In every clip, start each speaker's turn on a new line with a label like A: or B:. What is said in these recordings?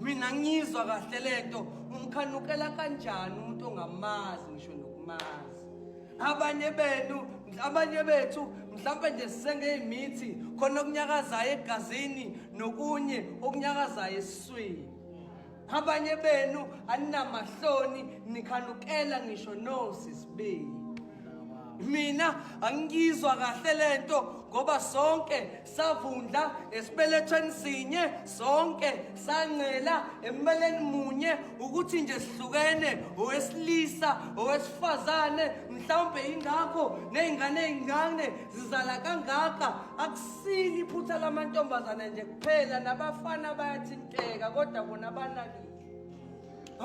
A: mina ngizwa kahle lento umkhanukela kanjani umuntu ongamazi ngisho nokumazi abanye benu abanye bethu mhlawumbe nje sisengeyimithi khona okunyakazayo egazini nokunye okunyakazayo esiswini abanye benu aninamahloni nikhanukela ngisho nosisibili mina angizwa kahle lento ngoba sonke savundla esibelethweni sinye sonke sancela embeleni munye ukuthi nje sihlukene owesilisa owesifazane mhlawumbe ingakho nezingane ezincane zizala kangaka akusili iphutha lamantombazane nje kuphela nabafana bayathinteka kodwa bona banakile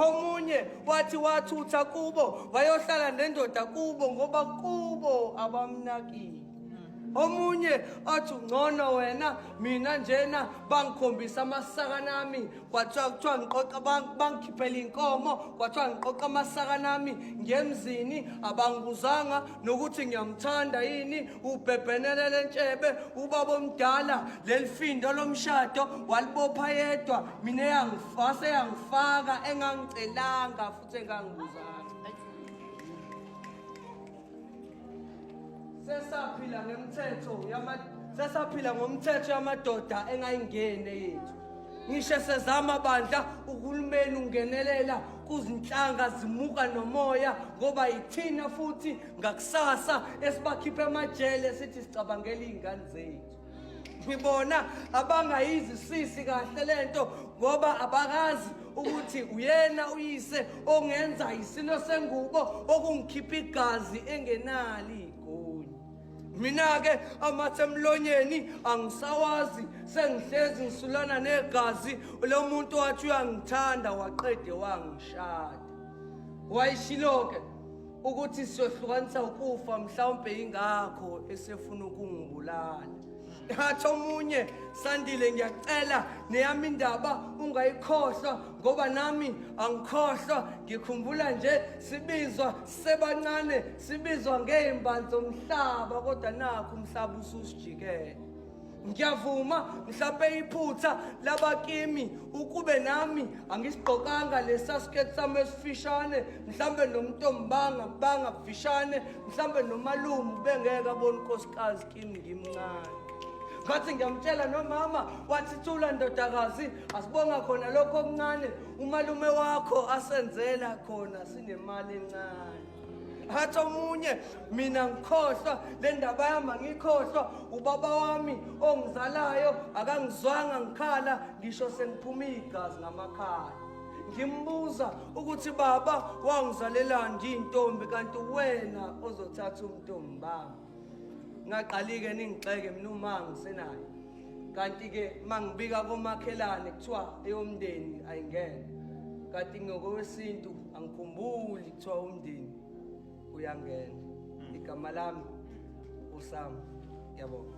A: omunye wathi wathutha kubo wayohlala nendoda kubo ngoba kubo abamnakile omunye athi ungcono wena mina njena bangikhombisa amasaka nami kwathiwa kuthiwa ngiqoqa bangikhiphela inkomo kwathiwa ngiqoqa amasaka nami ngemzini abangibuzanga nokuthi ngiyamthanda yini ubhebhenele lentshebe ubaba omdala lelifindo lomshado walibopha yedwa mina Wase yangifaka engangicelanga futhi engangibuzanga. Sesaphila ngemthetho yama sesaphila ngomthetho yamadoda engayingene yethu. Ngisho sezama bandla uhulumeni ungenelela kuzinhlanga zimuka nomoya ngoba yithina futhi ngakusasa esibakhipha emajele sithi sicabangela izingane zethu. ngibona abangayizisisi kahle lento ngoba abakazi ukuthi uyena uyise ongenza isilo sengubo okungikhipha igazi engenali igoli mina-ke amathe emlonyeni angisawazi sengihlezi ngisulana negazi lo muntu wathi uyangithanda waqede wangishada wayishilo-ke ukuthi siyohlukanisa ukufa mhlawumbe yingakho esefuna ukungibulala ngathi omunye sandile ngiyacela neyami indaba ungayikhohlwa ngoba nami angikhohlwa ngikhumbula nje sibizwa sebancane sibizwa ngey'mbali zomhlaba kodwa nakho umhlaba ususijikele ngiyavuma mhlawumpe iphutha labakimi ukube nami angisigqokanga lesa skirt sami esifishane mhlawumbe nomntombanga banga kufishane mhlawumbe nomalume ubengeke abona unkosikazi kimi ngimncane ngathi ngiyamtshela nomama wathi thula ndodakazi asibonga khona lokho okuncane umalume wakho asenzela khona sinemali encane hathi omunye mina ngikhohlwa le ndaba yami angikhohlwa ubaba wami ongizalayo akangizwanga ngikhala ngisho sengiphuma igazi ngamakhala ngimbuza ukuthi baba wangizalelani ndiyintombi kanti wena ozothatha umntombi bami ngaqalike ningixeke mina uma ngisenayo kanti-ke uma ngibika komakhelane kuthiwa eyomndeni ayingene kanti ngokowesintu angikhumbuli kuthiwa umndeni uyangena hmm. igama lami usama yabona